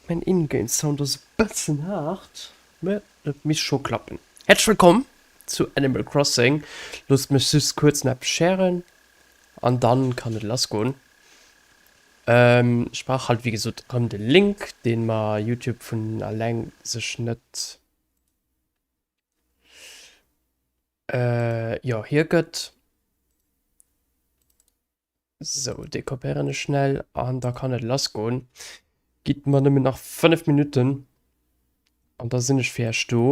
Mäin In-Game Sound ass e bëssen haart, mä et misst scho klappen. Häerzlech wëllkomm zu Animal Crossing. Loosst mech just kuerz no eppes schären an dann kann et lass goen. Ech brauch halt wéi gesot rëm de Link, deen mer Youtube vun alleng sech net Äh, jo, hie gëtt. Sou, dee kopéieren ech schnell an da kann et lass goen. Gitt mer nëmmen nach 5 Minutten an da sinn ech fir iech do.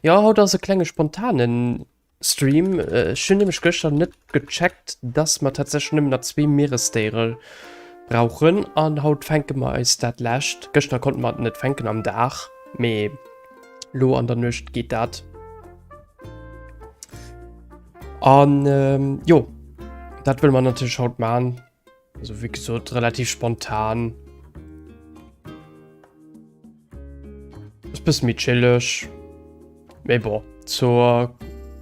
Jo, haut ass e klenge spontanen. Stream, ech hunn nämlech gëschter net gecheckt, dass mer tatsächlech nëmmen nach zwee Mieresdéiere brauchen an haut fänke mer eis dat lescht. Gëschter konnte mer et net fänken am Dag, mee lo an der Nuecht geet dat. An jo, dat wëlle mer natierlech haut maachen. Also wie gesot relativ spontan. Ist bis méi chillig. Mais bon, zur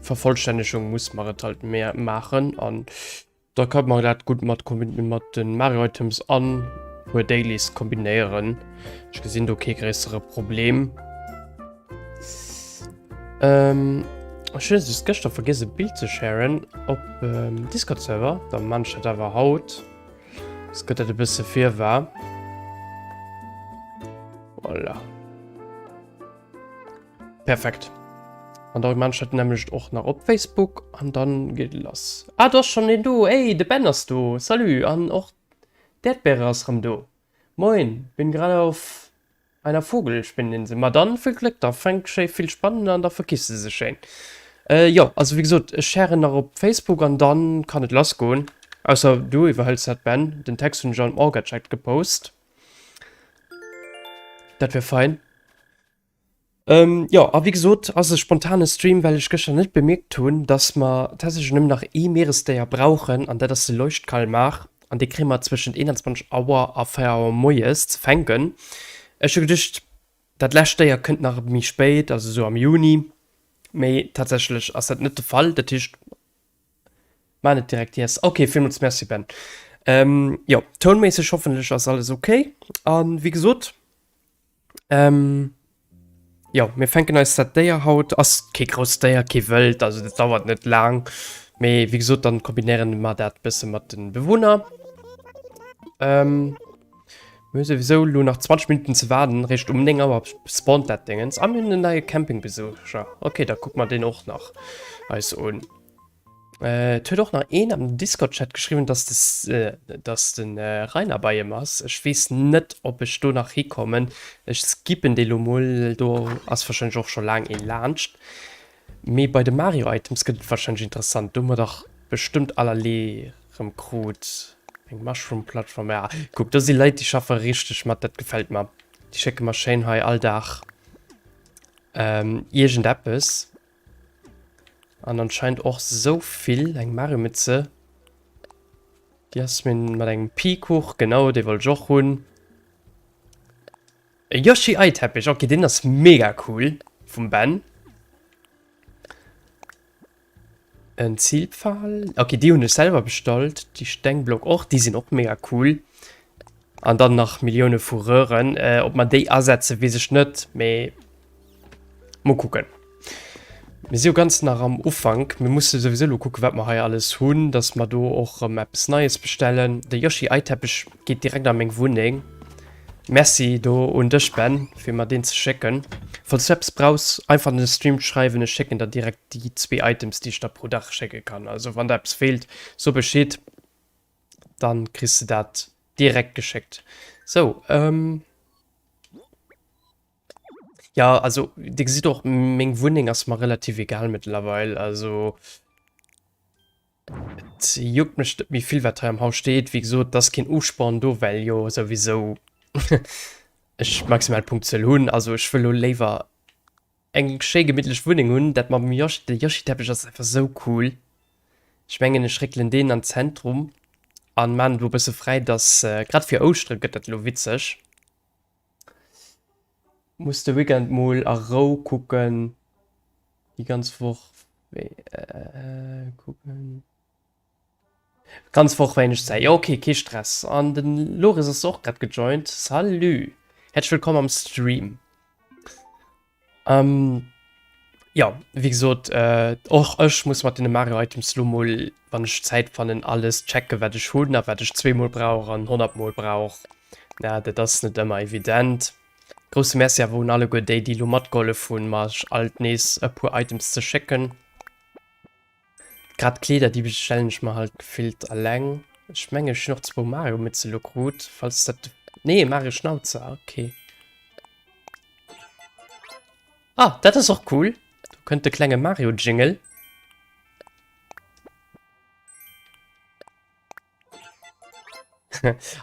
Vervollständigung muss man es halt mehr machen an da kann man das gut mat, mat den Mario Items an Dailies kombinieren. Ich gesinn do kee gréissere Problem. Ähm, ech hun just gëschter vergiss e Bild ze sharen op ähm, Discord Server, da manch dat awer haut. Es gëtt dat e bësse vir war. Voilà. Perfekt. An da manch dat nämlecht och nach op Facebook an dann geet lass. Ah, du hast schon den do. Ey, de Ben ass do. Salut an och d'Erdbeere ass rëm do. Moin, bin grad auf Bei enger Vogel spinnt een se, ma dann vill Gléck, da fänkt schéi vill Spannen an da verkisst se sech schéin. Jo, also wéi gesot, ech sharen nach op Facebook an dann kann et lass goen. Ausser du iwwerhëls dat Ben, den Text hunn ech an Orgachat gepost. Dat wär fein. Ähm, jo, a wéi gesot, ass e spontane Stream, well ech gëschter net bemierkt hunn, datt mer tatsächlech nëmmen nach ee Mieresdéier brauchen, an dat ass de Leuchtkalmar. An dee kréie mer zwëschent 21 Auer a 4 Auer moies ze fänken. Ech hu geduecht, dat lescht Déier kënnt nach méi spéit, also esou am Juni, mee tatsächlech ass dat net de Fall. Dat heescht, maan et direkt iess. Ok, villmools merci, Ben. Ähm, jo, tounméisseg hoffentlech ass alles ok. A wéi gesot, Ähm, ja, mir fänken eis dat Déier haut. Ass kee grousst Déier, kee Wëld, also dat dauert net laang. Mee wéi gesot, dann kombinéieren mer dat bësse mat den Bewunner. Ähm, mir hu souwisou elo nach 20 Minutten ze waarden, réischt um 9 Auer spawnt dat Déngens. Ah, mir hunn en neie Campingbesucher. Okay, da kucke mer deen och nach eis un. Äh, et huet och nach een am Discord-Chat geschriwwen, dass de, äh, dass de äh, Rainer bei em ass. Ech weess net, ob ech do nach hikommen. Ech skippen dee lo mol, do ass wahrscheinlech och scho laang ee laanscht. Mee bei de Mario-Items gëtt et wahrscheinlech interessant. Do hu mer dach bestëmmt allerlee rëm krut. Eng Mushroom-Plattform, ja. Kuck, do si Leit, déi schaffe richteg mat, dat gefält mer. Déi schécke mer schéin hei all Dag ähm, iergendeppes. An anscheinend och so vill eng Maremëtze. Di ass mir mat engem Pikuch, genau dee wollt ech och hunn. E Yoshi Ei Teppich, okay deen ass mega cool vum Ben. En Ziilpfahl, okay déi hunn ech selwer bestallt, déi Stengblock och, déi sinn och mega cool. An dann nach Millioune vu Röhren. Ob mer déi asetzen, weess ech net, mee mol kucken. Mir si jo ganz nach am Ufank. Mir musse souwisou elo kucken, wat mer hei alles hunn, dass mer do och erëm eppes Neies bestellen. De Yoshi-Eiteppech geet direkt a meng Wunneng. Merci do un dech, Ben, fir mer deen ze schécken. Falls du eppes brauchs, einfach an de Stream schreiwen. Ech schécken der direkt déi zwee Items, déi ech der pro Dag schécke kann. Also wann der eppes feelt, so Bescheed. dann kriss de dat direkt geschéckt. So, ähm, ja, also, Dir gesitt och, meng Wunneng ass mer relativ egal mëttlerweil. Also, et juckt mech net méi vill, wat hei am Haus steet. Wéi gesot, et ass keen Usporn do, well jo souwisou ech maximal Punkzuel hunn. Also, ech wëll elo léiwer Eng schéi gemittlech Wunneng hunn. Dat mam Yoshi, de Yoshi Teppech ass einfach sou cool. Ech mengen ech réckelen deen an Zentrum an maan do e bësse fräi dass grad fir Ouschteren gëtt dat elo witzeg. Muss de Weekend mol a Rou kucken, déi ganz Woch kucken. Ganz Woch wéineg Zäit, jo ok kee Stress. An den Loris ass och grad gejoint, salut, häerzlech wëllkomm am Stream. Jo wéi gesot och ech muss mat den Mario Items lo mol wann ech Zäit fannen alles checken wat ech hunn a wat ech zwee mol brauch an honnert mol brauch. Dat ass net ëmmer evident. Grousse Merci awer un alleguer déi déi lo matgehollef hunn mech alt nees e puer Items ze schécken. Grad d'Kleeder déi bestellen ech mer halt gefillt alleng. Ech mengen ech hun och zwou Mario Mütze lo krut, falls dat, nee Mario Schnauzer, ok. Ah dat ass och cool, do kënnt de klenge Mario Jingle.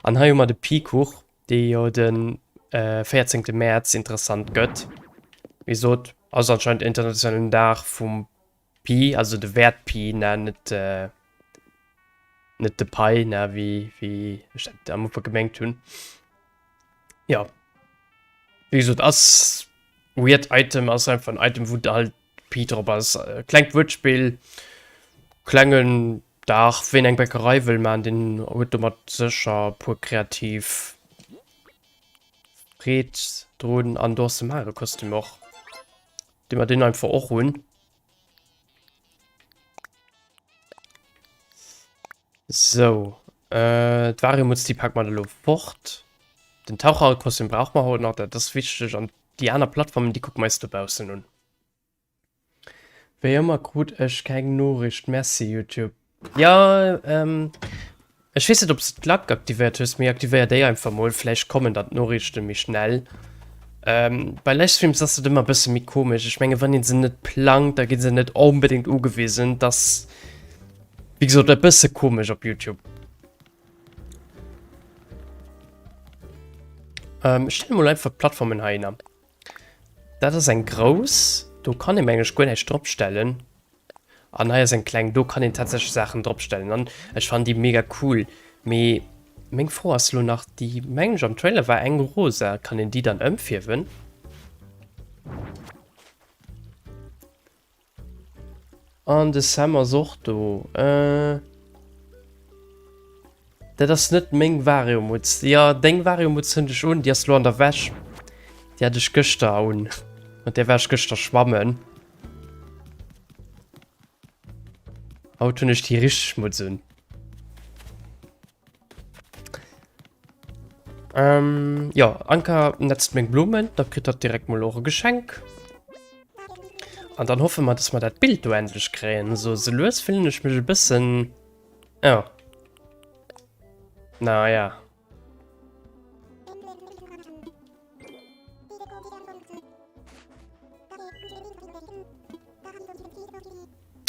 An hei hu mer de Pikuch, dee jo de 14 Mäerz interessant gëtt. Wéi gesot ass anscheinend internationalen Dag vum Pi, also de Wäert Pi, ne, net, net de Pai, ne, wéi, wéi ech dat am Ufank gemengt hunn. Jo. Wéi gesot, ass weird Item, ass einfach en Item, wou halt Pi drop ass. Klengt Wuertspill, klengen Dag, ween eng Bäckerei wëll man, deen huet domat sécher e puer kreativ Freed drun. An do ass de Mario-Kostüm och. Dinn mer deen einfach och un. Sou. Äh, d'Variumuts, déi packt mer elo fort. Den Taucherkostüm brauch mer haut nach, dat ass wichteg. An déi aner Plattformen, déi kucke mer eis dobaussen un. Wéi ëmmer krut ech keng Noriicht. Merci, YouTube. Jo ehm ech wees net obs de d'Lak aktivéiert hues, mee aktivéier déi einfach mol, vläicht kommen dann d'Noriichten méi schnell. Ehm bei Livestreams ass et ëmmer bëssen méi komesch, ech mengen wann een se net plangt da ginn se net onbedingt ugewisen, et ass wéi gesoot e bëssen komesch op Youtube. Ehm ech stelle mol einfach d'Plattformen heihinner, daat ass eng grouss do kann een mengen ech guer näischt drop stellen. An hei ass eng kleng, do kann een tatsächlech Saachen dropstellen an ech fannen déi mega cool. Mee meng Fro ass elo nach déi, mengen ech am Trailer war eng rosa, kann een déi dann ëmfierwen? An de Sam ass och do, euh. Dat ass net meng Vario-Mutz. Jo, deng Vario-Mutz hunn ech un, déi ass lo an der Wäsch. Déi hat ech gëschter un, mat där war ech gëschter schwammen. Haut hunn ech déi richteg Mutz un. Ähm, jo, Anka netzt meng Blumen, da kritt hatt direkt mol och e Geschenk. An dann hoffe mer, dass mer dat Bild do endlech kréien. Sou, sou lues fillen ech mech e bëssen... Oh. Na ja.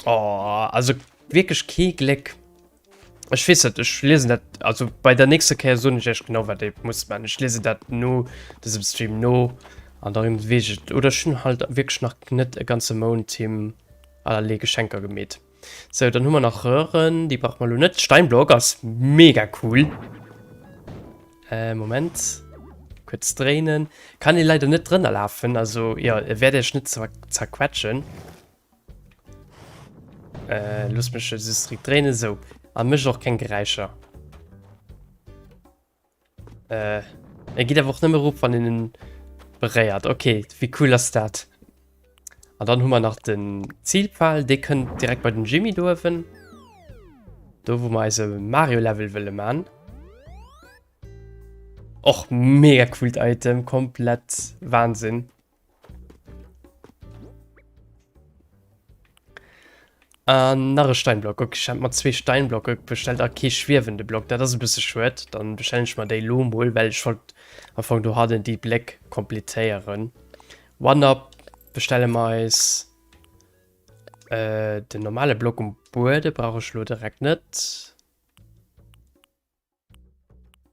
Oh, also wirklich kein Glück. Ich weiß nicht, ich lese das, also bei der nächsten Kehr so nicht echt genau, was ich muss machen. Ich lese das nur, das im Stream nur, an darum weiß ich, oder schon halt wirklich noch nicht den ganzen Mond Team allerlei Geschenke gemäht. So, dann hu mer nach Röhren. Déi brauch mer lo net. Steinblock ass mega cool. Äh, Moment. Kurz dréinen. Kann ee leider net drënner lafen. Also, ja, e wäert iech net zerquetschen. Äh, looss mech just dréinen. So. A mécht och keng Geräischer. Äh, er geht einfach nimmer rup, wann den bereiert. Okay, wie cool das dat? Und dann haben wir nach den Zielpfahl, der könnt direkt bei den Jimmy dürfen. Da, wo wir also Mario-Level wollen machen. Och mega coolt Item, komplett Wahnsinn. Äh, nach e Steinblock. Okay, ich hab mal zwei Steinblocke bestellt, aber kein schwebende Block. Das ist ein bisschen schade. Dann bestelle ich mal den lo mal, weil ich wollte am Anfang du hatte die Black komplettieren. One-Up bestellen wir uns äh, den normalen Block um Boden. Brauche ich lo direkt nicht.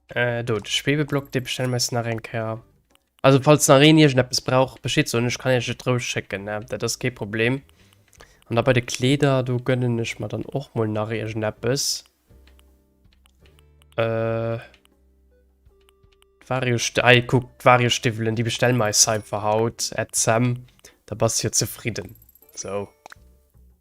Äh, do, de Schwebeblock, dee bestelle mir nach eng Kéier. Also, falls nach een iergendeppes brauch, Bescheed soen, ech kann iech et roueg schécken, ne? Dat ass kee Problem. An da bei de Kleeder, do gönnen ech mer dann och mol nach iergendeppes. Äh. D'Vario-Sti-, hei, kuck, d'Vario-Stiwwelen, déi bestelle mer eis hei einfach haut, Ed Sam. Da bass jo zefridden. Sou.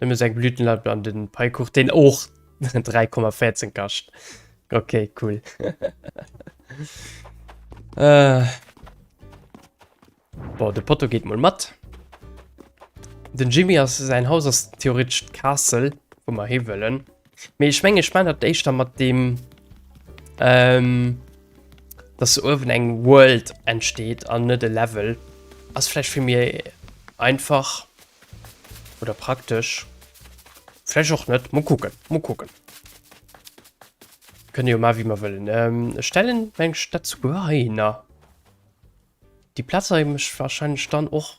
Nëmme seng Blütenlampe an den Paikuch, deen och 3,14 kascht. Okay, cool. äh. Boah, de Potto geet mol mat. Den Jimmy ass, säin Haus ass theoretesch d'Castle, wou mer hiwëllen. Mee ech menge spann dat éischter mat dem ähm, dass se uewen eng World entsteet an net e Level ass flläch fir mir einfach oder praktesch flläch och net mo kucken mo kucken kënne jo mar wie mer wëllen ähm, stellen eng Stadt zu Geheiner. Déi Plaza hu mech wahrscheinlech dann och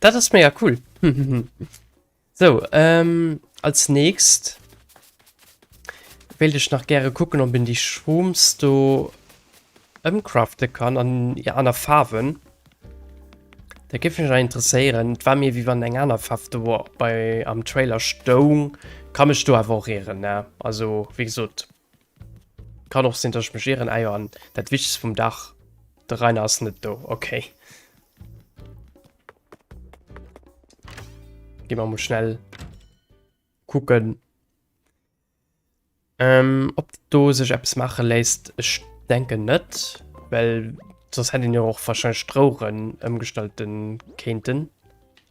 Dat ass mega cool. so, ähm, als nächst will ich nach gerne gucken, ob in die Shrooms do umcraften kann an ja, aner Farben. Da gif mich interessieren. Et war mir wie wann eng aner Farbe do war bei am Trailer Stone. Kann mich do aber auch irren, ne? Also, wie gesagt, Kann och sin dass ech mech ieren. Ah jo an dat wichtegst vum Dach, de Rainer ass net do, okay. Gi mer mol schnell kucken ähm, ob do sech eppes maache léisst. Ech denken net, well soss hätt een jo och wahrscheinlech d'Roueren ëmgestallten kéinten.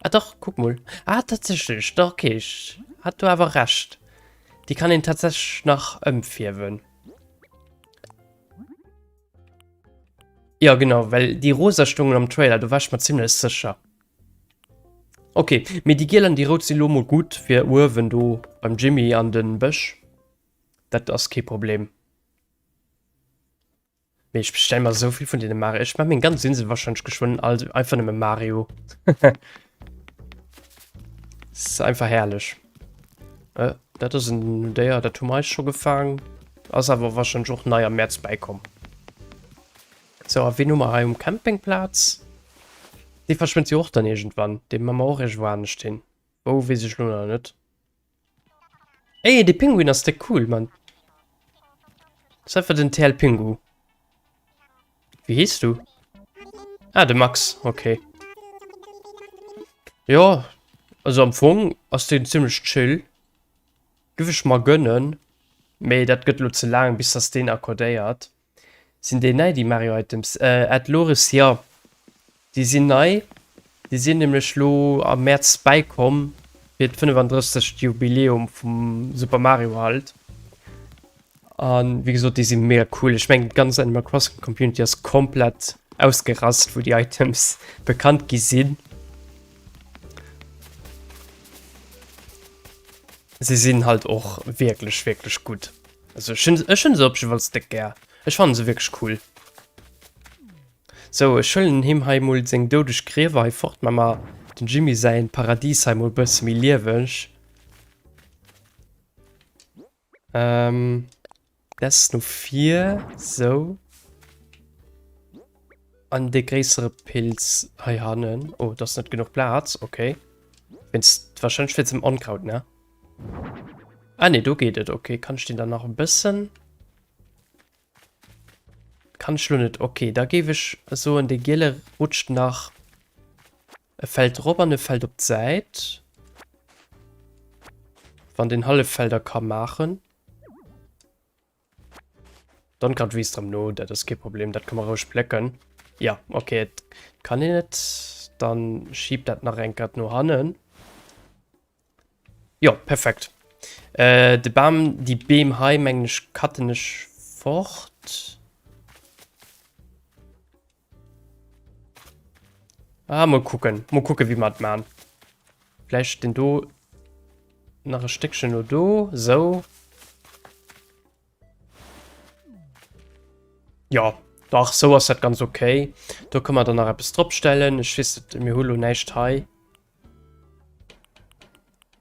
Ah doch, guck mol. Ah, tatsächlich, doch, okay, ich hat du aber recht. Die kann ihn tatsächlich nach umfärben. Ja, genau, weil die rosa stungen am Trailer, du warst mir ziemlich sicher. Okay, mir die gelben, die rot sind lomo gut für oben du beim Jimmy an den Büsch. Das ist kein Problem. Mee ech bestell mer souvill vun den Mario. Ech mach meng ganz Insel wahrscheinlich geschwënn alt einfach nëmme Mario. ist einfach herrlech. Äh, dat ass en déier, dat hu meist schon gefaang. Ass awer wahrscheinlich och nei am März beikom. So, a wen hu mer hei um Campingplatz? Dee verschwënnt jo och dann irgendwann. Dee ma mer och irgendwo anescht hin. Wou, weess ech lo nach net. Ey, de Pinguin ass de cool, Mann. Das ist einfach den TL Pingu. Wie hieß du? Ah, de Max. Okay. Ja, also am Fong ass den ziemlich chill. Gif ich mal gönnen. Mei, dat gött lo ze lang, bis dass den akkordéiert. Sinn déi nei déi Mario Items? Ed Loris, Jo déi sinn nei, déi sinn nämlech elo am Mäerz bäikomm fir d'fënnefandrëfzegt Jubiläum vum Super Mario halt. A wéi gesot déi si mega cool, ech mengen d'ganz Animal Crossing Community ass komplett ausgerast wou déi Items bekannt gi sinn. Se sinn halt och wierklech wierklech gutt. Also ech hunn, ech hunn se op jewalls déck gär. Ech fannen se wierklech cool. Sou, ech huelen him hei mol seng doudeg Griewer hei fort. Maa mer dem Jimmy säin Paradies hei mol bësse méi lieweg. Ehm, des no vir, sou. An dee gréissere Pilz hei hannen. Oh, do ass net genuch Plaz, okay. Wéinst, wahrscheinlech wéinst dem Onkraut, ne? Ah ne, do geet et. Okay, kann ech den dann nach e bëssen... Kann ech lo net. Okay, da géif ech soen, de giele rutscht nach e Feld drop an e Feld op d'Säit. Wann den hallef Felder ka maachen. Dann grad wéi s drem no, dat ass kee Problem, dat ka mer roueg plécken. Ja, okay, et kann een net. Dann schieb dat nach eng Kéier no hannen. Jo, perfekt. Äh, de Bam, déi Beem hei, mengen ech, cutten ech fort. Ah, mal kucken. Mal kucken, wéi mer et man. Vläicht den do nach e Stéckchen no do. So. Ja, dach, so ass dat ganz okay. Do kënne mer dann nach eppes drop stellen. Ech weess net, mir hu lo näischt hei.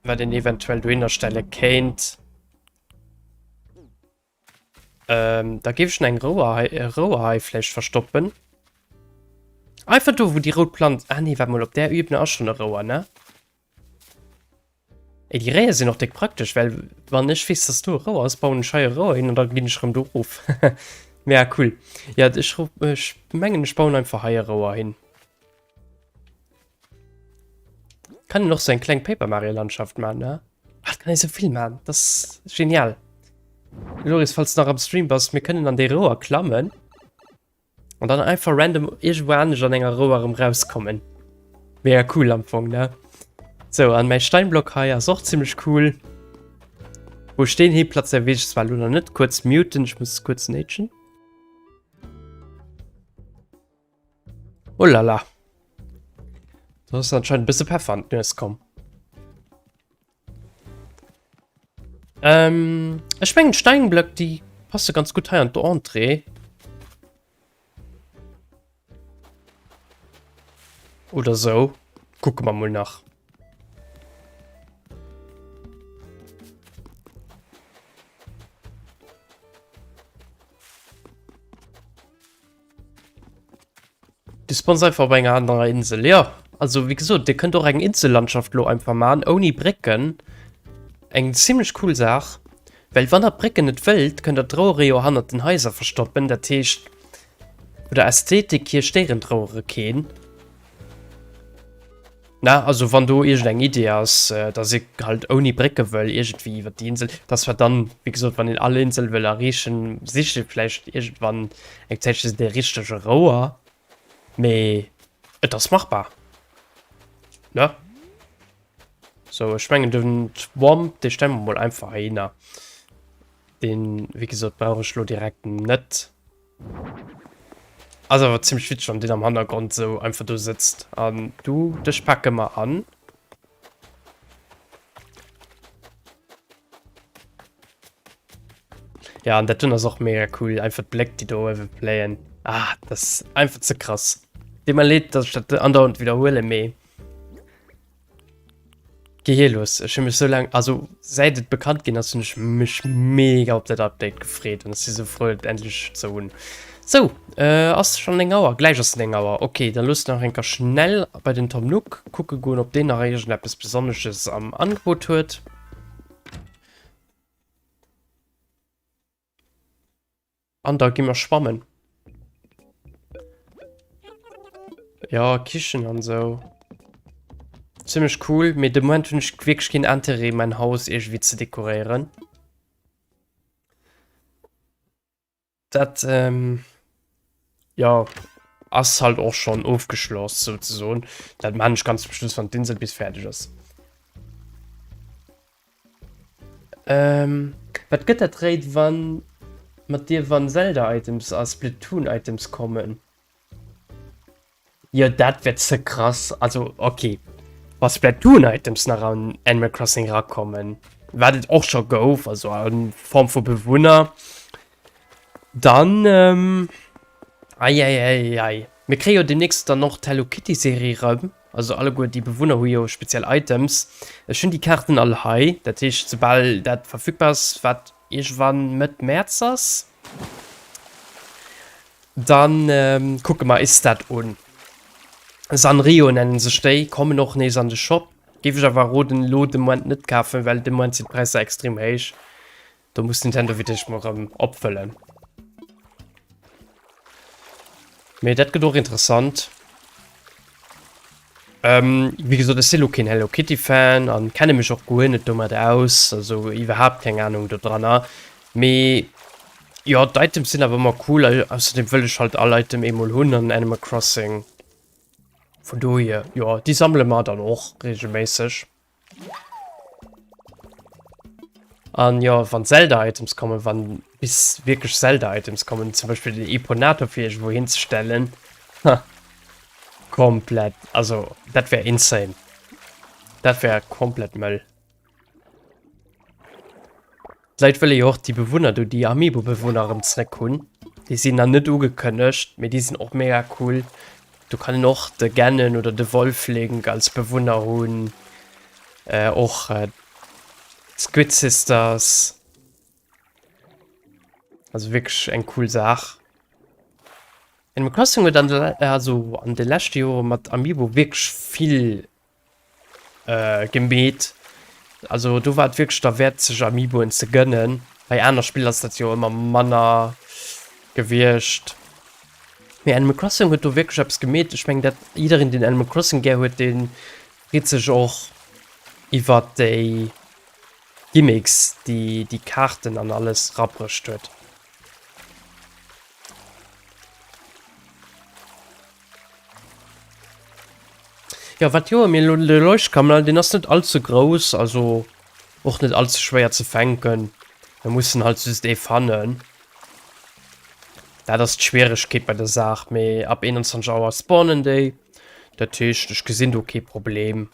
Wat den eventuell dohinner stelle kéint. Ähm, da gebe ich eng Rouerhaifläch äh, verstoppen. Einfach do, wo die rote Pflanze... Ah nee, warte mal, op der Ebene ist schon eine Rouer, ne? Ey, die Rehe sind noch dick praktisch, weil wann ich weiß, dass du Rouer hast, bauen ich hier Rouer hin und dann gehe ich rum da rauf. ja, cool. Ja, ich, ich meine, ich bauen einfach hier Rouer hin. Kann den och so eng kleng Paper Mario Landschaft man ne? Ach, kann e so vill man, das genial. Loris falls nach am Stream bass, mir kënnen an de Roer klammen. An dann einfach random irgendwo anders an enger Roer rum rauskommen. Mega cool am Fong ne? So an mein Steinblock hei ass och ziemlich cool. Wo stehen he Platz der Wech zwar lo net kurz muten, ich muss kurz nätschen. Oh la la. Da ass anscheinend e bësse Peffer an d'Nues komm. Ähm, ech mengen Steinblöck, die passe ganz gut hei an der Entrée. Oder so. Gucken wir mal nach. Du spawns einfach op enger anerer Insel, jo. Also wéi gesot, Dir kënnt och eng Insellandschaft elo einfach maachen, ouni Brécken. Eng zimmlech cool Saach. Well wann der d'Brécken net wëllt, kënnt der d'Rouere jo hannert den Haiser verstoppen. Dat heescht, vun der Ästhetik hier stéieren d'Rouere keen. Na, also wann do iergend eng Idee ass, dass ee halt ouni Brécke wëll iergendwéi iwwert déi Insel, dass wat dann, wéi gesot, wann een all Insel wëll erreechen, sicht ee vläicht iergendwann eng Zäitche de richtege Rouer. Mee et ass machbar, ne? Sou, ech mengen den Womp, dee stelle mer mol einfach heihinner. Deen, wéi gesot, brauch ech elo direkt net. Ass awer ziemlech witzeg wann deen am Hannergrond sou einfach do sëtzt an du dech packe mer an. Ja an dat dun ass och mega cool einfach d'Bléck déi do ëwe playen. Ah das einfach ze krass. Deet mer leed dass ech dat andauernd widerhuele mee. Gehelos, ech hun mech sou lang, also säit et bekannt gin ass, hun ech mech mega op dat Update gefreet an ech si sou frou et endlech ze hun. Sou, äh, ass schon 9 Auer? Gläich ass 9 Auer, okay, da looss nach enker schnell bei den Tom Nook kucke goen, ob deen nach iergendeppes Besonnesches am Angebot huet. An da gi mer schwammen. Ja, Kichen an so. Ziemlich cool, mir de Moment hunn ech wirklich keen Interêt mein Haus irgendwie ze dekoréieren. Dat, ähm... Jo, ass halt och schon ofgeschloss souzesoen. Dat maan ech ganz zum Schluss wann d'Insel bis färdeg ass. Ehm wat gëtt dat réit wann mat dir wann Zelda Items a Splatoon Items kommen? Jo, dat wär ze krass. Also, okay. Wa Splatoon-Items nach an Animal Crossing rakommen, wat et och scho gouf, also a Form vu Bewunner, dann, ähm, eieieiei. Mir kréie jo deemnächst dann och d'Hello Kitty-Serie erëm, also alleguer déi Bewunner hu jo speziell Items. Ech hunn déi Kaarten all hei, dat heescht, soubal dat verfügbar ass, wat Iergwann Mëtt Mäerz ass, dann kucke mer is dat un. Sanrio nennen sech déi, kommen och nees an de Shop. Géif ech awer roden elo de Moment net kafen, well de Moment sinn d'Präisser extrem héich. Do muss Nintendo fir d'éischt mol rëm opfëllen. Mee dat gëtt och interessant. Ähm, wie gesot, ech sinn lo keen Hello Kitty Fan an kenne mech och guer net domat aus, also iwwerhaapt keng Ahnung do dranner. Mee jo, d'Items sinn awer ëmmer cool, ausserdem wëll ech halt all Item eemol hunn an Animal Crossing. Vun dohier, jo, déi sammele mer dann och regelméisseg. An jo, wann Zelda-Items kommen, wann bis wierklech Zelda-Items kommen, zum Beispill den Eponator fir iergendwou hinzestellen, ha, komplett, also dat wär insane. Dat wär komplett Mëll. D'Leit wëlle jo och déi Bewunner do, déi Amiibo-Bewunner erëm zréck hunn. Déi sinn nach net ugekënnegt, mee déi sinn och mega cool. Do kann een och de Ganon oder de Wolflink als Bewunner hunn. Och d'Squid Sisters. Also wierklech eng cool Saach. Animal Crossing huet an de, also an de leschte Jore mat Amiibo wierklech vill äh, gemeet. Also do war et wierklech derwäert, sech Amiiboen ze gënnen. Bei aner Spill ass dat jo ëmmer manner gewiescht. Mee Animal Crossing huet do wierklech eppes gemeet. Ech meng, dat jiddereen, deen Animal Crossing gär huet, dee freet sech och iwwer déi Gimmicks, déi déi Kaarten an alles rabruecht huet. Jo wat Joer mir elo de Leuchtkammel, deen ass net all ze grouss, also och net all ze schwéier ze fänken. Mir mussen halt just ee fannen. Dat ass d'Schwieregkeet bei der Saach, mee ab 21 Auer spawnen déi. Dat heescht ech gesinn do kee Problem.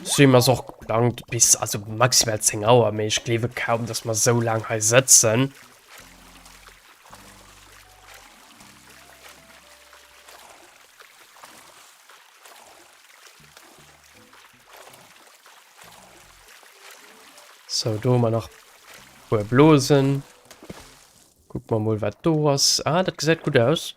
Stream ass och geplangt bis, also maximal 10 Auer, mee ech gleewe kaum, dass mer esou laang hei sëtzen. So, do man nach puer Blosen. Guck mal mal, wat do ass. Ah, dat gesäit gut aus.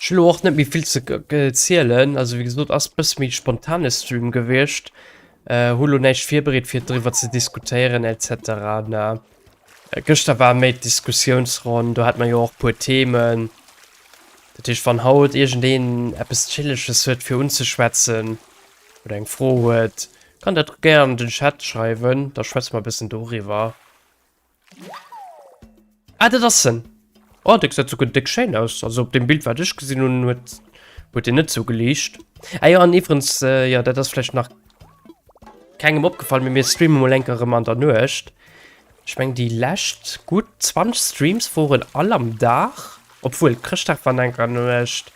Ech hun elo och net méi vill ze zielen, also wéi gesot ass bësse méi spontane Stream gewiescht, hu lo näischt virbereet fir driwwer ze diskutéieren etc. Ne, gëschter war méi d'Diskussiounsronn, do hat mer jo och puer Themen, dat heescht wann haut iergendeen eppes chilleges huet fir unzeschwätzen oder eng Fro huet, kann dat gär an den Chat schreiwen, da schwätze mer e bëssen doriwwer. Ah, dat ass en. Oh, de gesäit souguer déck schéin aus. Also op dem Bild, wat ech gesinn hunn, huet huet deen net esou geliicht. Ah jo, an iwwerens, jo, dat ass vläicht nach kengem opgefall, mee mir streame mol eng Kéier erëm an der Nuecht. Ech mengen, déi lescht gutt 20 Streams woren all am Dag. Obwuel, Chrëschtdag war enker an der Nuecht.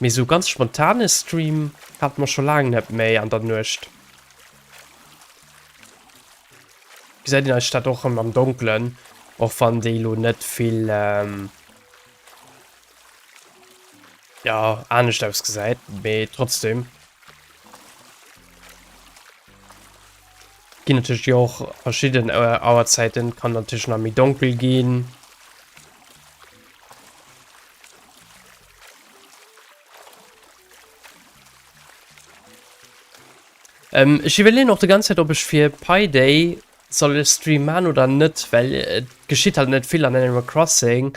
Mee esou ganz spontane Stream hate mer scho laang net méi an der Nuecht. gesäit een eis Stadt och schon am Donklen, och wann déi lo net vill ehm ja anescht ausgesäit, mee trotzdem. Ginn natierlech jo och verschidden Auerzäiten, kann natierlech nach méi donkel ginn. Ähm, ech iwwerleen och de ganz Zäit, ob ech fir Pi Day soll e Stream maan oder net, well et geschitt halt net vill an Animal Crossing.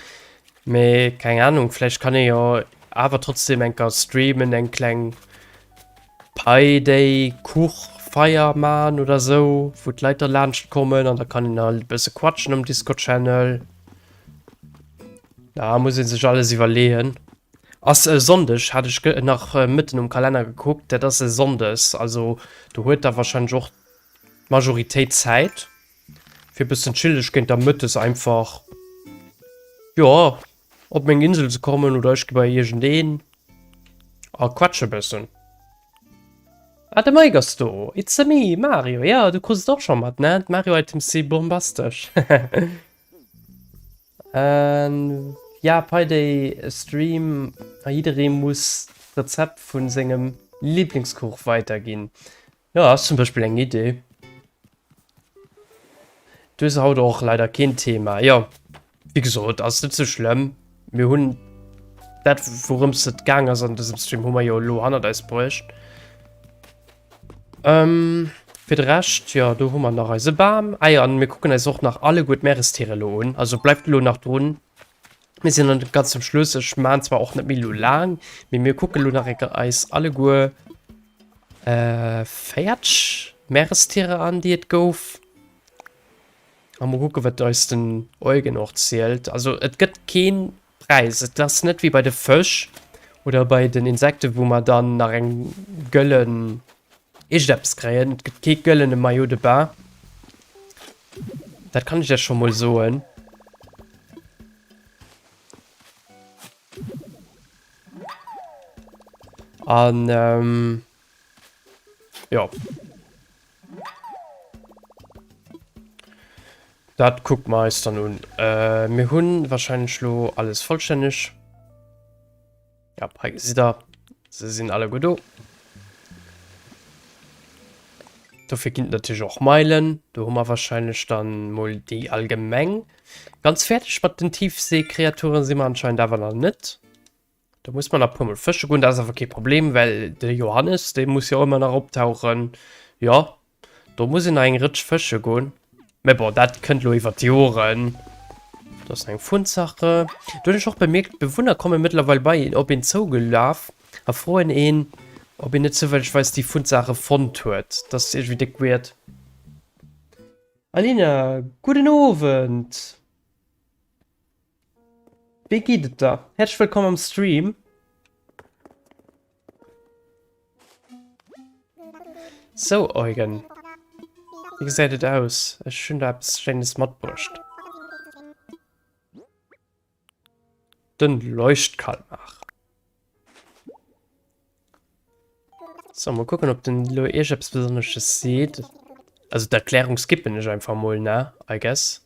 Mee keng Ahnung, vläicht kann ee jo awer trotzdem enker streamen, eng kleng Pi Day Kuchfeier maan oder sou, wou d'Leit da laanscht kommen, an da kann een halt e bësse quatschen am Discord Channel. Da muss ee sech alles iwwerleeën. Ass e Sonndeg, hat ech nach mëtten um Kalenner gekuckt, dat ass e Sonndes, also do huet Der warscheinlech och d'Majoritéit Zäit fir e bëssen chillech, kéint Der mëttes einfach, jo, op meng Insel ze kommen oder ech gi bei iergendeen a quatsche bëssen. Ah, de Mike ass do! It's a me, Mario! Jo, du krus et och scho mat, ne? D'Mario-Items si bombastesch! Jaa Payday Stream a jidderee muss d'Rezept vun sengem Lieblingskuch weiterginn. Jo ass zum Beispill eng Idee. Du hues haut och leider keen Thema. Jo wéi gesot ass net sou schlëmm. Mir hunn dat wourëms et gaang ass an dësem Stream hu mer jo elo hannert eis bruecht. Ähm, fir de Rescht, jo, do hu mer nach eise Bam. Ah jo, an mir kucken eis och nach alleguer d'Meerestiere elo un. Also bleift elo nach drun. Mir sinn dann ganz zum Schluss. Ech maan zwar och net méi elo laang, mee mir kucken elo nach eng Kéier eis alleguer, äh, véiert Meerestiere an, déi et gouf. A muer kucken, wat eis den Eugen och zielt. Also et gëtt keen Präis. Et ass net wéi bei de Fësch oder bei den Insekte wou mer dann nach eng gëllen Ischteppes kréien. Et gëtt kee gëllene Maillot de Bain. Dat kann ech Iech scho mol soen. An ähm, jo. Dat kuckt mer eis dann un. Äh, mir hunn wahrscheinlech lo alles vollstänneg. Ja, hei gesitt der, se sinn alle gut do. Dofir ginn natürlich och Meilen. Do hu mer wahrscheinlech dann mol déi allgemeng. Ganz fertig mat den Tiefseekreaturen si mer anscheinend awer nach net. Da muss man nach pummel fësche gun, dat awer kee Problem, well de Johannes dee muss jo ëmmer nach optauchen. Jo do muss en nach eng Rëtsch fësche gun, mä bon dat kënnt lo iwwer d'Joren. Do ass nach eng Funsache. Do hunn ech och bemierkt, d'Bewunner komme mëttlerweil bei een op een zougelaf a froen een, ob een net zoufällegweis déi Funsache fonnt huet. Dat ass iergendwéi déck weird. Alina, gudden Owend! Wéi geet et der? Häerzlech wëllkomm am Stream. Sou Eugen, wéi gesäit et aus? Ech hunn der eppes Schéines matbruecht. Den Leuchtkalmar. So, mol kucken op den elo iech eppes besonnesches seet. Also d'Erklärung skippen ech einfach mol, ne? I guess.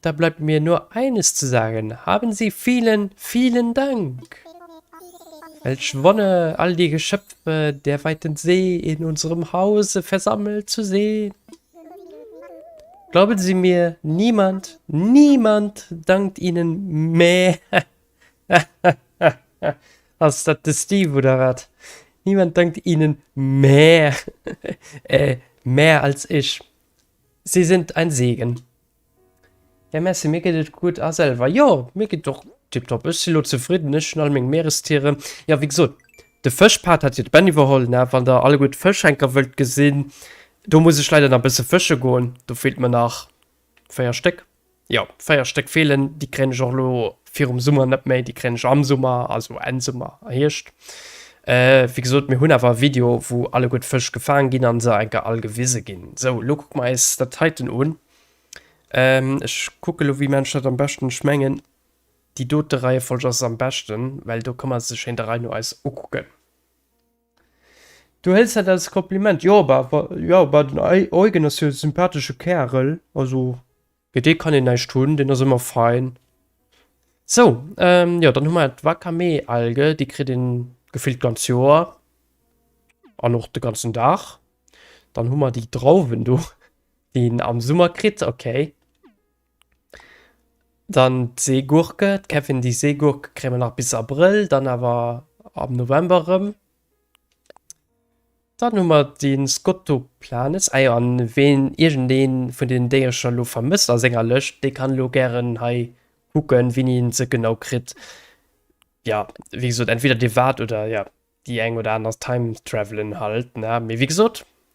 Da bleibt mir nur eines zu sagen, haben Sie vielen, vielen Dank! Welch Wonne, all die Geschöpfe der weiten See in unserem Hause versammelt zu sehen! Glauben Sie mir, niemand, niemand dankt Ihnen mehr! Hahahaha! Ass dat de Steve oder wat? Niemand dankt Ihnen mehr, äh, mehr als ich! Sie sind ein Segen! Ja merci, mir geet et gutt a selwer? Jo, mir geet et och tiptop, ech si lo zefridden, ech hunn all meng Meerestieren. Jo wéi gesot, de Fëschpart hat jo d'Benny iwwerholl ne, wann der alleguer d'Fëschschenker wëllt gesinn, do muss ech leider nach bësse fësche goen, do feelt mer nach 4 Stéck, jo 4 Stéck feelen, déi kréien ech och lo Virum Summer net méi, déi kréien ech am Summer, also Enn Summer a Hierscht. Äh, wéi gesot, mir hunn awer e Video, wou alleguer Fësch gefaang ginn a se enker all gewise ginn. Sou, elo kucke mer eis dat heiten un. Ähm, ech kucke lo, wéi man ech dat am beschten. Ech mengen, déi dote Reiefolg ass am beschten, well do ka mer se schéin der Rei no eis ukucken. Du hëls dat als Kompliment? Jo, bah, bah, jo, bah, den Eugen ass jo e sympathesche Kärel, also Fir dee kann een näischt hunn, deen ass ëmmer fein. Sou, jo dann hu mer d'Wakame-Alge, déi kritt een gefillt d'ganz Joer an och de ganzen Dag. Dann hu mer déi Drauwen do, déi een am Summer kritt, ok. Dann d'Seegurke, d'Kevin-Di-Seegurke kréie mer nach bis Abrëll, dann awer am November erëm. Dann hu mer den Skottoplanes. Ah jo, an ween iergendeen vun den Déierecher lo vermësst a senger Lëscht, dee kann lo gären hei kucken wien een se genau kritt. Ja, wéi gesot, entweder dir waart oder ja déi eng oder aner Time Travelen halt, ne? Mee wéi gesot,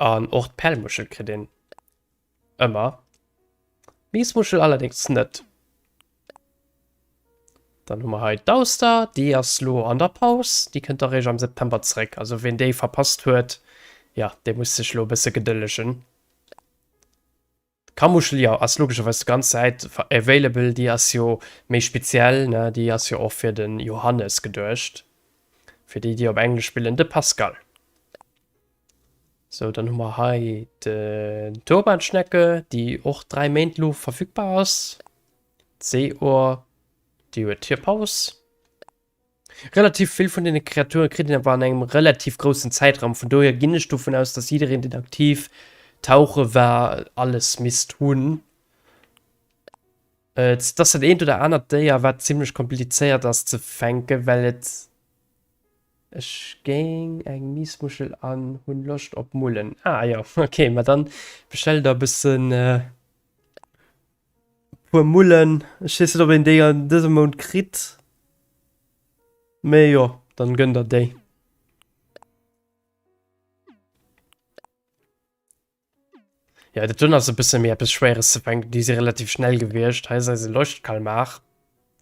An och d'Pellmuschel kritt een ëmmer, d'Miesmuschel allerdéngs net. Dann hu mer hei d'Auster, déi ass elo an der Paus, déi kënnt da réischt am September zréck. Also ween déi verpasst huet, jo, dee muss sech elo e bësse gedëllegen. D'Kamuschel jo ass logescherweis d'ganz Säit available, déi ass jo méi speziell ne, déi ass jo och fir de Johannes geduecht, fir déi déi op englesch spillen, de Pascal. Sou dann hu mer hei den Turbanschnecke, déi och 3 Méint lo verfügbar ass, d'Seeohr déi huet hir Paus. Relativ vill vun deene Kreaturen kritt een awer an engem relativ groussen Zäitraum, vun dohier ginn ech dovun aus, dass jiddereen deen aktiv tauche war alles misst hunn. Et ass dat eent oder anert Déier wat zimmlech komplizéiert ass ze fänken, well et, ech géing eng Miesmuschel an hunn Loscht op Mullen, ah jo ok, ma dann bestell der e bëssen. Puer Mullen, ech wees net op een déi an dësem Mount kritt, mee jo dann gënn der déi. Jo dat dunn ass e bësse méi eppes schwéieres ze fänken, déi si relativ schnell gewiescht. Hei si se Leuchtkalmar,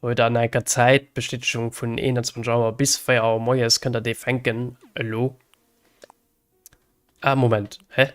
huet an enker Zäit Bestätegung vun 21 Auer bis 4 Auer moies kënnt der déi fänken elo. Ah Moment, hä?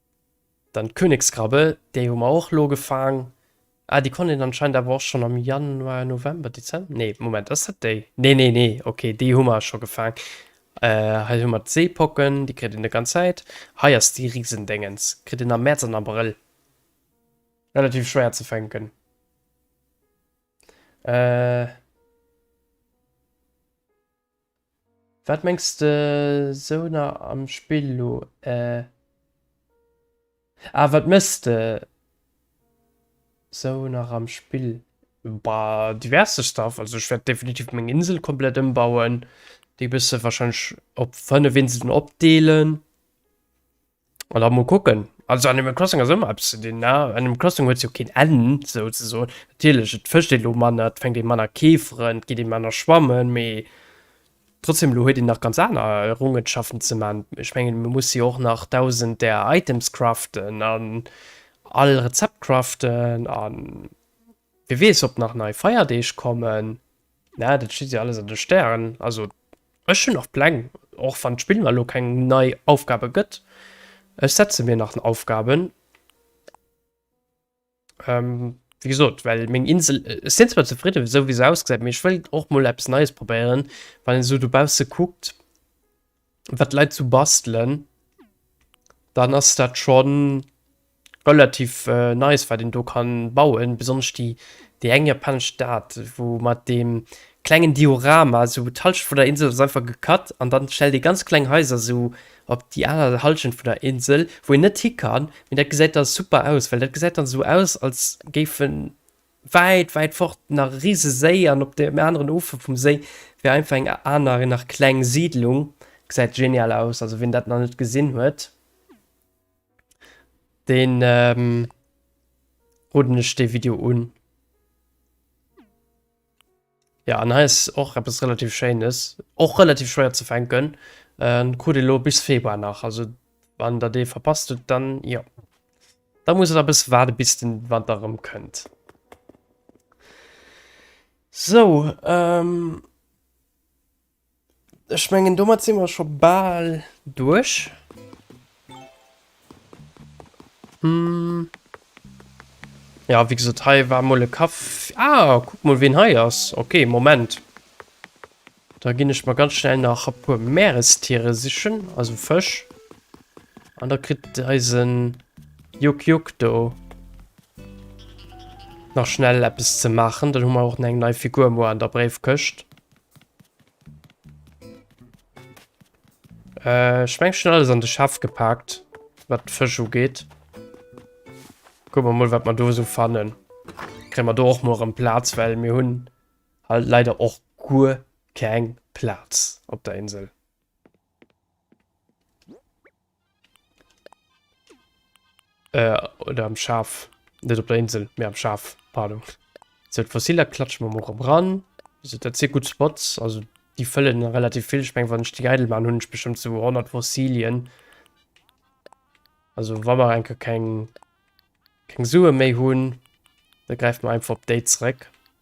Dann d'Königskrabbe, déi hu mer och elo gefaang. Ah, déi konnt een anscheinend awer och schonn am Januar, November, Dezember, nee, Moment, ass dat déi? Nee, nee, nee, ok, déi hu mer scho gefaang. Hei hu mer d'Seepocken, déi kritt een net ganz Zäit. Hei ass déi Risendéngens, kritt een am Mäerz an Abrëll. Relativ schwéier ze fänken. Wat mengs de sou na am Spill lo eh? Ah wat mëss de sou nach am Spill? Bah diverse Stuff, also ech wärt definitiv meng Insel komplett ëmbauen, déi bësse wahrscheinlech op 5 Inseln opdeelen. An da mol kucken. Also Animal Crossing ass ëmmer eppes ze dinn, ne? Animal Crossing huet jo keen Enn, sou ze soen. Natierlech, et fëscht ee lo manner, et fänkt ee manner Keeferen, et geet ee manner schwammen, mee trotzdeem, elo huet een nach ganz aner Errungenschaften ze man. Ech mengen, mir musse jo och nach dausend där Items craften an all Rezept craften an. Wie weess ob nach nei Feierdeeg kommen, ne dat steet jo alles an de Stären. Also ech hunn nach Pläng, och wann d'Spill mer elo keng nei Aufgabe gëtt, ech setze mir nach Aufgaben. Wéi gesot, well meng Insel, ech sinn zwar zefridde esou wéi se ausgesäit, mee ech wëll och mol eppes Neies probéieren, wann een esou dobausse kuckt. wat d'Leit zu bastelen, dann ass dat schon relativ nice wat een do kann bauen, besonnesch déi déi eng japanesch Stad wou mat deem klengen Diorama sou d'Halschent vun der Insel ass einfach gecut an dann stellt ee ganz kleng Haiser sou op déi aner Halschent vun der Insel wou een net hi kann, mee dat gesäit da super aus well dat gesäit dann sou aus als géif en Wäit, wäit fort nach e Riseséi an op deem aneren Ufer vum Séi wier einfach eng aner, nach kleng Siidlung. Gesäit genial aus, also wien dat nach net gesinn huet, deen roden ech dee Video un. Ja, an hei ass och eppes relativ Schéines, och relativ schwéier ze fänken. Äh, krut ee lo bis Februar nach, also wann der dee verpasst hutt, dann jo. Da musst der e bësse waarde bis den Wanter erëm kënnt. Sou, ähm. Ech mengen domat si mer scho bal duerch. Hm. Ja wéi gesot hei war mol e Kaff. Ah kuck mol ween hei ass. Ok Moment. Da ginn ech mer ganz schnell nach e puer Meerestiere sichen, also Fësch. An da kritt eise Juck Juck do nach schnell eppes ze maachen. Dann hu mer och eng nei Figur muer an der Bréifkëscht. Äh, ich mein schon alles an de Schaff gepackt, was Fisch geht. Gucken wir mal, was wir da so fannen. Kriegen wir da auch morgen Platz, weil wir haben halt leider auch gut kein Platz auf der Insel. Äh, oder am Schaf. Net op der Insel, mee am Schaf. Pardon. So, d'Fossiler klatschen wir mal ran. Also, das sind gut Spots. Also, die füllen relativ viel. Ich meine, wenn ich die Geidel machen, habe ich bestimmt so 100 Fossilien. Also, wenn wir eigentlich kein, kein Sue mehr haben, dann greifen wir einfach auf die zurück.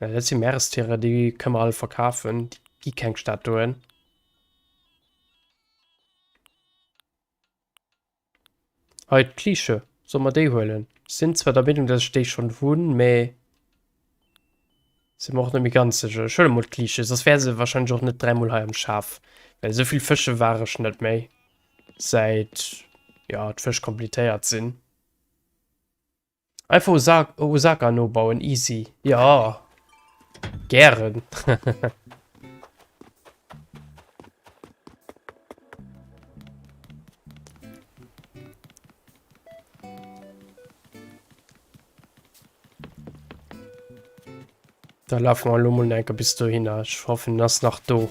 Ja, dat si Meerestiere, déi kënne mer all verkafen. Déi gi keng Statuen. Hei, d'Kliische. Solle mer déi huelen? Ech sinn zwar der Meenung, dass ech déi schonn hunn, mä sinn mer och net méi ganz sécher. Ech huele mol d'Kliische, soss wär se warscheinlech och net dräimol hei am Schaf. Well esou vill fësche war ech net méi, säit, jo, d'Fësch completéiert sinn. Einfach Osaka, Osaka nobauen, easy. Ja. Gären. da lauf mal lo mal enke bis du hin. Ich hoffe, das nach do.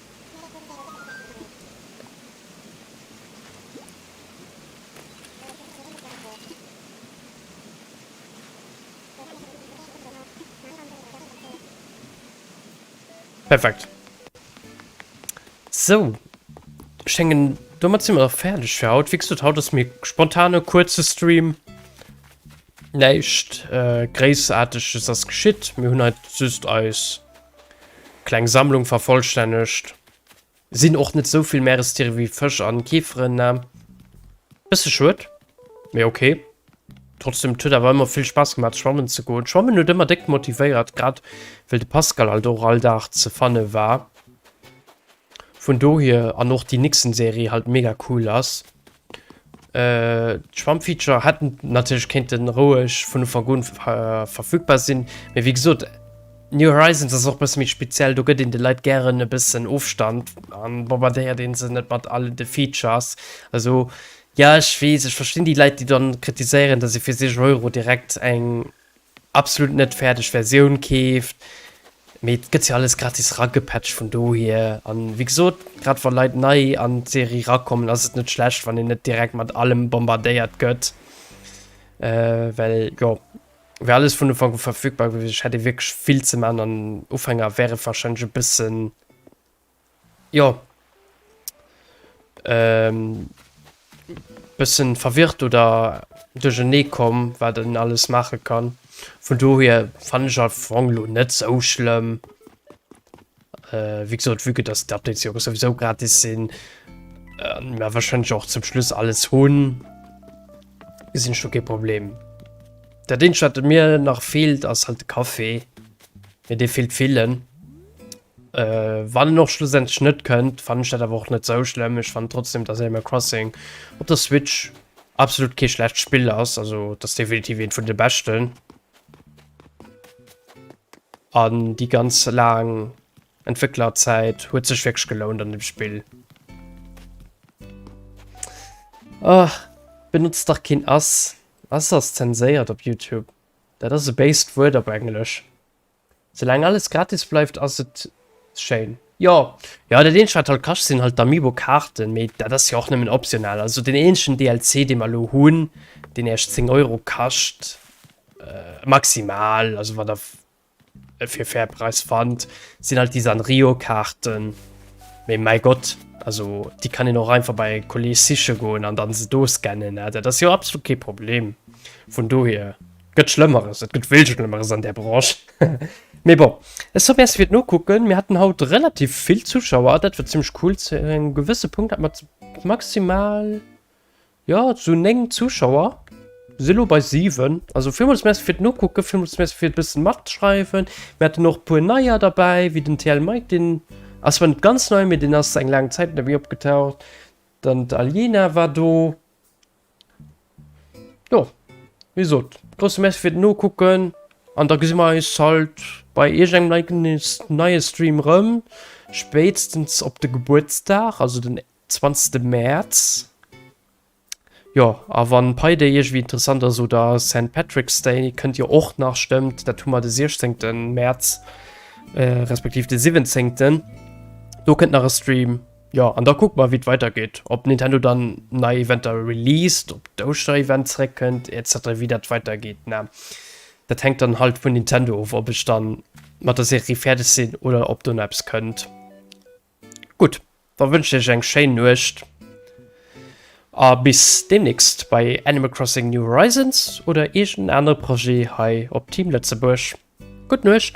Perfekt. So. Ich denke, damit sind wir auch fertig für heute. Wie gesagt, heute ist mir spontane, kurze Stream. Nicht äh, großartig ist das geschieht. Wir haben halt süß Eis. Kleng Sammlung vervollstännegt. Sinn och net souvill Meerestiere wéi Fësch an Keeferen na. Bësse schued, mee ok. Trotzdem, 't huet awer ëmmer vill Spaass gemat schwammen ze goen. Schwammen huet ëmmer déck motivéiert, grad wéll de Pascal alt och all Dag ze fanne war. Vun dohier an och déi Nixon Serie halt mega cool ass. D'Schwammfeature hätten natierlech kéinten roueg vun Ufank un verfügbar sinn, mee wéi gesot, New Horizons ass och e bësse méi speziell, do gëtt een de Leit gären e bëssen Ofstand an bombardéiert een se net mat all de Features. Also jo, ech weess, ech verstinn déi Leit, déi dann kritiséieren, dass ee fir 60 Euro direkt eng absolut net fäerdeg Versioun keeft, mee et gëtt jo alles gratis ragepatcht vun dohier. An wéi gesot, grad wa Leit nei an d'Serie rakommen, ass et net schlecht, wann een net direkt mat allem bombardéiert gëtt, well jo wär alles vun Ufank u verfügbar gewiescht. Hätt ee wierklech vill ze man an Ufänger wär et warscheinlech e bëssen. Jo. Ehm. Bessen verwirrt oder durchernee komm wat en alles maachen kann. Vun dohier fannen ech Fong lo net sou schlëmm. Wéi gesot vue que dass d'Updates jo souwisou gratis sinn, an mer wahrscheinlech och zum Schluss alles hunn, gesinn ech do kee Problem. Dat eenzegt wat mir nach feelt ass halt de Café, mee dee feelt villen. Äh, wann en och schlussendlech net kënnt, fannen ech dat awer och net sou schlëmm. Ech fannen trotzdem, dass Animal Crossing op der Switch absolut kee schlecht Spill ass. Also, dass definitiv eent vun de beschten. An déi ganz laang Entwécklerzäit huet sech wierklech gelount an dem Spill. Ah, benotzt dach keen ass. Ass ass zenséiert op Youtube. Dat ass e béist Wuert op Englesch. Soulaang alles gratis bleift ass et schéin. Jo jo dat eenzegt wat halt kascht sinn halt d'Amiibo Kaarten, mee dat ass jo och nëmmen optional. Also den eenzegen DLC dee mer elo hunn deen eescht 10 Euro kascht maximal, also wann der e fir fair Preis fannt, sinn halt déi Sanrio Kaarten. Mee mäi Gott, also déi kann een och einfach bei e Kolleeg siche goen an dann se do scannen, dat ass jo absolut kee Problem. Vun dohier. Gëtt Schlëmmeres, et gëtt vill Schlëmmeres an där Branche. Mee bon, eso merci fir d'Nokucken. Mir haten haut relativ vill Zuschauer, dat war zimmlech cool. Zu engem gewësse Punkt hat mer maximal, jo, zu 9 Zuschauer. Si lo bei 7. Also villmools merci fir d'Nokucken, villmools merci fir e bësse matschreiwen. Mir haten och e puer Neier derbäi, wéi den TL Mike, deen ass zwar net ganz nei, mee deen ass eng laang Zäit net méi opgetaucht. Dann d'Aliena war do. Jo, wie sot, grosse Merci fir den Nokucken. An da gesi mer eis halt bei irgendengem neie Stream rëm. Spéitstens op de Gebuertsdag, also den 20. März. Jo, a wann Pi Day iergendwéi interessant ass oder Saint Patrick's Day, kënnt jo och nach, stëmmt, dat hu mer de 16. März, respektiv de 17. Do kënnt nach e Stream. Jo an da kucke mer wéi et weider geet, ob Nintendo dann nei Eventer released, ob d'Ouschterevent zréck kënnt etc. Wéi dat weider geet ne, dat hänkt dann halt vun Nintendo of, ob ech dann mat der Serie fäerdeg sinn oder ob do nach eppes kënnt. Gutt, da wënschen ech iech eng schéin Nuecht a bis deemnächst bei Animal Crossing New Horizons oder iergenden anere Projet hei op Team Lëtzebuerg. Gutt Nuecht!